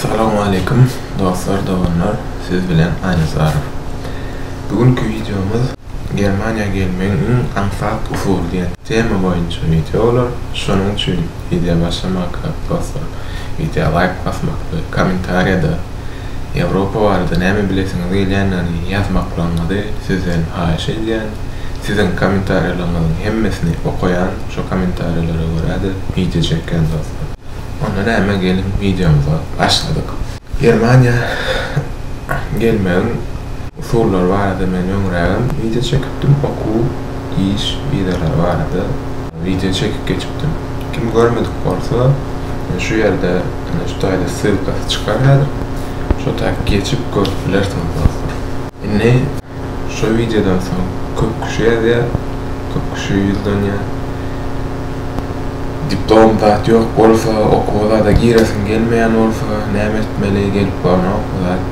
Salam aleýkum dostlar doganlar siz bilen Aýnazarow bu günki wideomyz Germaniýa gelmegiň iň aňsat usuly diýen tema boýunça wideo bolar şonuň üçin wideo başlamakka dostlar wideo laýk basmak we kommentariýada Ýewropa barada näme bilesiňiz gelýändigini ýazmaklaryňyzy sizden haýyş edýän siziň kommentariýalaryňyzyň hemmesini okaýan şo kommentariýalara görä-de wideo çekýän dostlar. Onda näme geliň wideomyza başladyk. Germaniýa gelmegiň usullary barada men öňrägem wideo çekipdim, okuw, iş wizalary barada wideo çekip geçipdim. Kim görmedik bolsa men şu ýerde ine şu taýda ssylkasy çykar häzir. Şo taýy geçip görüp bilersiňiz dostlar. Indi Şo wideodan soň köp kişi ýazýar, köp kişi ýüzlenýär. Diplom zat ýok bolsa, okuwa zada giresiň gelmeýän bolsa, näme etmeli, gelip barnok bu zat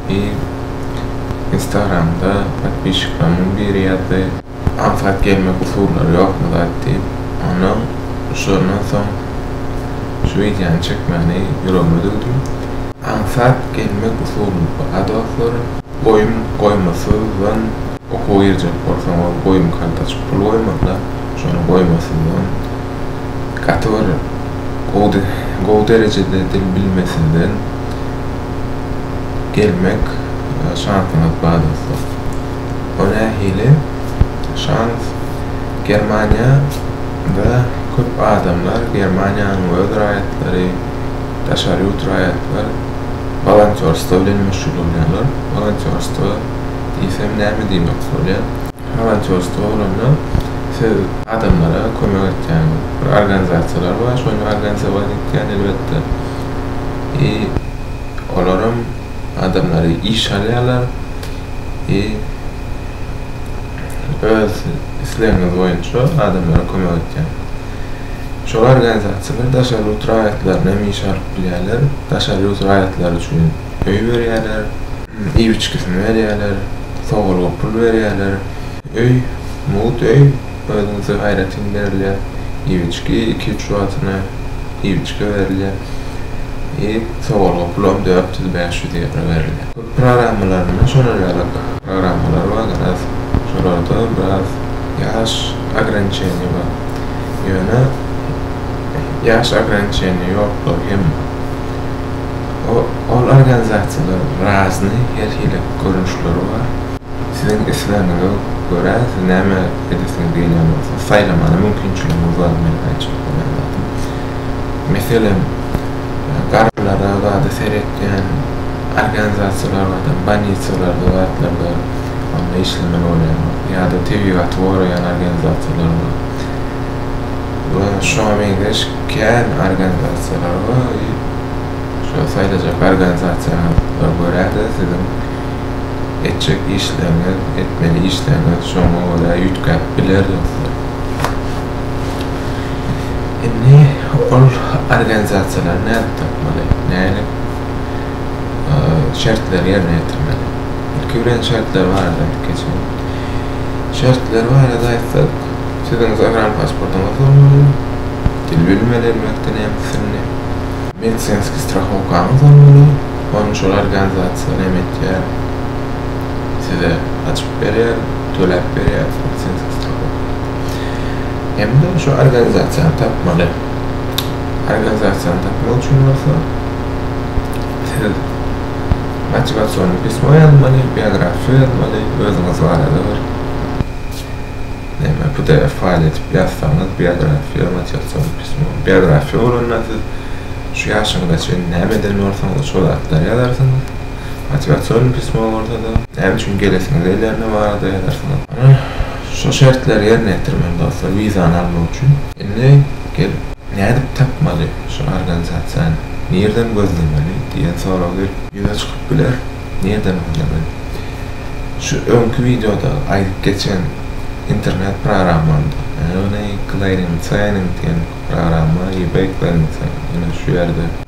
diýip, instagramda podpişiklerimden biri ýazdy. aňsat gelmek usullary ýokmy zat diýip, ondan şondan soň şu wideony çekmäni ýüregime düwdüm. Aňsat gelmek usuly bu a dostlar. Goýum goýmasyzdan okuwa girjek bolsaňyz goýum karta açyp pul goýmazlar şony goýmasyzdan gaty bir gowy gowy derejede dil bilmesinden gelmek şansyňyz bar dostlar. O nähili şans? Germaniýada köp adamlar, Germaniýanyň öz raýatlary, daşary ýurt raýatlar wolontýorstwo bilen meşgullanýarlar. Wolontýorstwo diýsem näme diýmek bolýar? Wolontýorstwo bolanda siz adamlara kömek etýäňiz. Bir organizasiýalar bar, şony organizowan etýän elbetde. I olaram adamlary işe alýarlar. i öz islegiňiz boýunça adamlara kömek etýän. Şol organizasiýalar daşary ýurt raýatlaryny hem işe alyp bilýärler, daşary ýurt raýatlary üçin öý berýärler, iýip içgisini berýärler, sogulga pul berýärler, öý, mugt öý, özüňize aýratyn berilýär, iýip içgi, iki-üç wagtyna iýip içgi berilýär, i sogulga pul hem dört ýüz-bäş ýüz ýewro berilýär. Programmalaryna şonalaýalyk programmalar bar biraz şolarda biraz ýaş ograniçeniýa bar ýöne ýaş ograniçeniýa ýokdur hem ol organizasiýalar razyny her hili görnüşleri bar siziň islegiňize görä siz näme edesiňiz gelýän bolsa saýlamaga mümkinçiligiňiz bar men aýtjak bolýan zadym meselem garrylara zada seret Ýani organizasiýalarada bolnisiýalarda zatlarda onda işlemeli bolýarlar. Ýa-da tebigaty goraýan organizasiýalar bar. We şoňa meňzeş kän organizasiýalar bar. Şo saýlajak organizasiýaňyza görä-de siziň etjek işleriňiz, etmeli işleriňiz şoňa görä üýtgäp biler dostlar. Indi ol organizasiýalary nädip tapmaly? Nädip şertleri ýerine ýetirmeli? Ilki bilen şertler barada aýdyp geçeýin. Şertler barada aýtsak, siziň zagran pasportyňyz bolmaly, dil bilmeli, elbetde, nemes dilini. Medisinskiý strahowkaňyz bolmaly, ony şol organizasiýa näme etýär, size açyp berýär, töläp berýär, medisinskiý strahowka. hem-de şu organizasiýany tapmaly. Organizasiýany tapmak üçin bolsa siz motiwasion pismo ýazmaly, biografia ýazmaly, özüňiz barada bir näme pdf faýl edip ýazsaňyz, biografiýa, motiwasion pismo, biografiýa bolanda siz şu ýaşyňyza çenli näme eden bolsaňyz şo zatlary ýazarsyňyz. Motiwasion pismo bolsa-da näme üçin gelesiňiz gelýändigi barada ýazarsyňyz. Şu şertleri ýerine ýetir meni dostlar wizany almak üçin. Indi gelip nädip tapmaly şu organizasiýany nirden gözlemeli diýen sorag gelip. Ýüze çykyp biler nirden gözlemeli. Şu öňki wideoda aýdyp geçen internet programmamda ýagny clearing signing diýen programma ebay clearing signing ýene şu ýerde.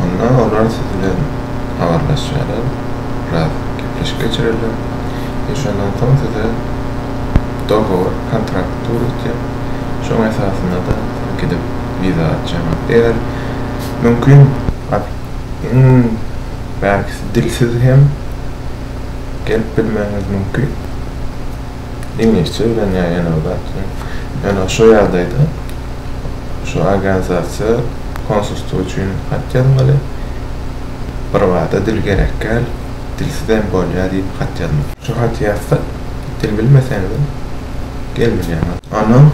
Onda olar siz bilen habarlaşarlar, biraz gepleşik geçirerler we şondan soň size dogowor, kontrakt döretýär. Şoň esasynda-da siz gidip wiza aljaksyňyz. Eger mümkin, iň bärkisi dilsiz hem gelip bilmegiňiz mümkin. iňlisçe öwrenýär ýene bir zat ýöne şo ýagdaýda şu organizasiýa konsulstwo üçin hat ýazmaly bir zada dil gerek däl dilsizem bolýar diýip hat ýazmaly şu haty ýazsak dil bilmeseňizem gelmilýäňiz ondan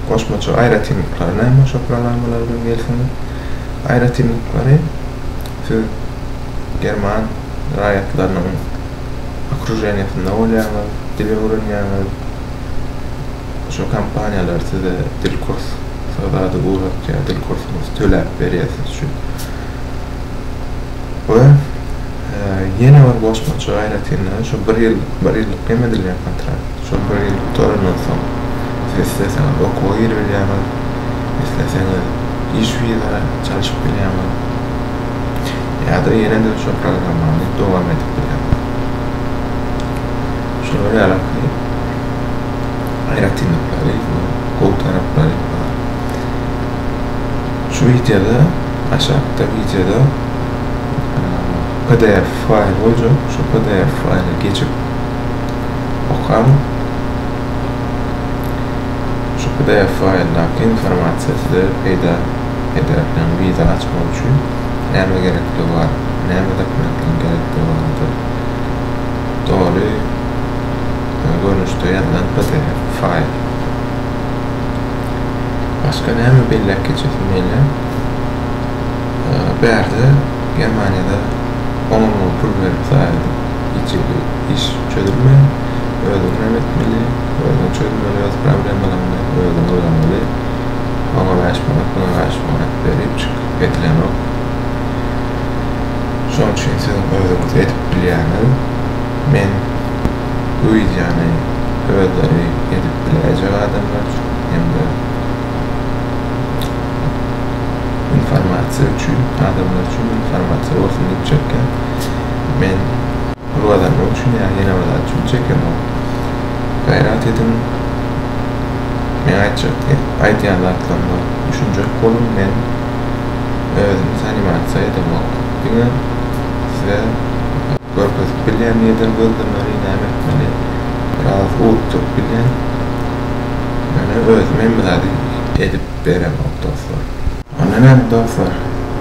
goşmaça aýratynlyklary näme şo programmalar bilen gelseňiz aýratynlyklary siz german raýatlarynyň okruženiýasynda bolýaňyz, dil öwrenýäňiz. Şo kompaniýalar size dil kurs zady ugrukýar, dil kursuny töläp berýär siz üçin. We ýene bir goşmaça aýratynlygy şu bir ýyl, bir ýyllyk hem edilýän kontrakt. Şol bir ýyl gutarandan soň siz isleseňiz okuwa giribilýäňiz, isleseňiz iş wizara çalşyp bilýäňiz. Häzir ýene-de şu programmany dowam edip bilerin. Şolar ýaly ki, aýratynlyklary, gowy taraplary bar. Şu wideoda, aşakda wideoda PDF faýl boljak, şu PDF faýly geçip okaň. Şu PDF faýldaky informasiýa size peýda Edermen wiza açmak üçin näme gerekdigi bar, näme dokumentlaryň gerekdigi barada doly görnüşde ýazylan pdf faýl. Başga näme belläp geçesim gelýär? Bärde Germaniýada oňa muňa pul berip zaýady hiçhili iş çözülmeýär. Özüňem etmeli, özüň çözmeli öz problemalaryňy, özüň ylgamaly. Oňa bäş manat, muňa bäş manat berip çykyp gedilenok. Şonuň üçin siziň özüňiz edip bilýäniz. Men bu wideony özleri edip biläýjek adamlar üçin hem-de informasiýa üçin, adamlar üçin informasiýa bolsun diýip çekýän. Men Bir bazar yok şimdi ya yine bazar üçin çekem ol. Gayrat edin. Men aytacak diye. Aytyan zatlarım var. Düşünecek olun men. Özüm sanimatiza edem yok. Dine size görkezip bilyen neden gözlemleri ne etmeli. Biraz uutturup bilyen. Yani özüm hem bir edip berem yok dostlar. Onda näme dostlar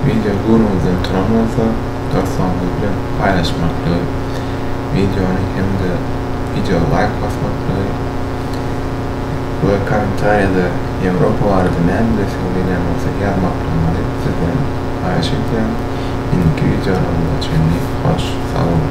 wideo görmezden turan bolsa dostlaryňyz bilen paýlaşmaklygy wideony hem-de wideoa laýk basmaklygy we kommentariýada Ýewropa barada näme bilesiňiz diýilýän bolsa ýazmaklygyňyzy sizden haýyş edýärin. Indiki wideolarymyza çenli hoş sag boluň.